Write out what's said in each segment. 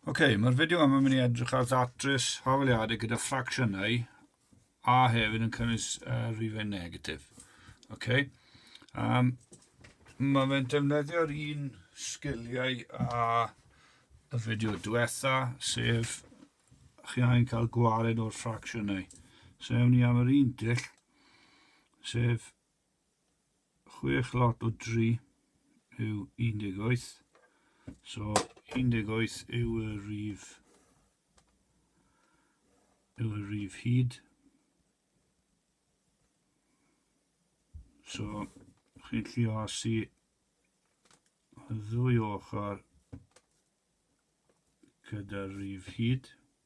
Ok, mae'r fideo yma mynd i edrych ar ddatrys hafaliadau gyda ffracsiynau a hefyd yn cynnwys uh, rifau negatif. Ok, um, mae fe'n defnyddio'r un sgiliau a y fideo diwetha, sef chi angen cael gwared o'r ffracsiynau. So ewn ni am yr un dull, sef chwech lot o 3 yw 18. So 18 yw y rif yw y rif hyd. So chi'n llio asu y ddwy ochr gyda'r rif hyd.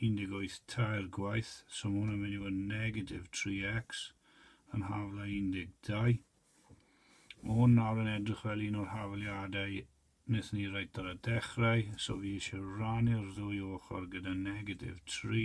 18 tair gwaith, so ma' hwn yn mynd i fod yn negatif 3x yn hafl a 12. Mae hwn nawr yn edrych fel un o'r hafaliadau wnaethon ni reit ar y dechrau, so fi eisiau rannu'r ddwy ochr gyda negatif 3.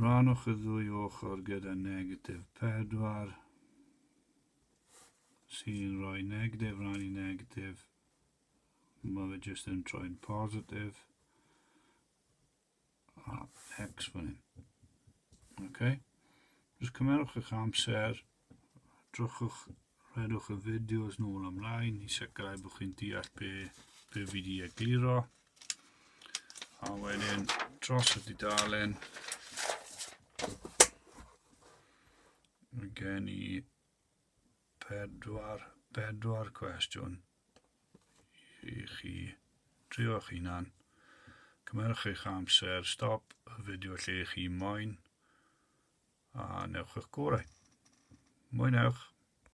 Rhannwch y ddwy ochr gyda negatif 4 sy'n rhoi negatif rhan i negatif. Mae fe jyst yn troi'n positif. A x fan hyn. Okay. Just cymerwch eich amser. Drwchwch, rhedwch y fideos nôl ymlaen i sicrhau bod chi'n deall be, be fi di egluro. A wedyn dros y dudalen, mae gen i pedwar, pedwar cwestiwn. i chi drio eich hunan. Cymerwch eich amser, stop y fideo lle chi moyn a newch eich gorau. Mwynewch!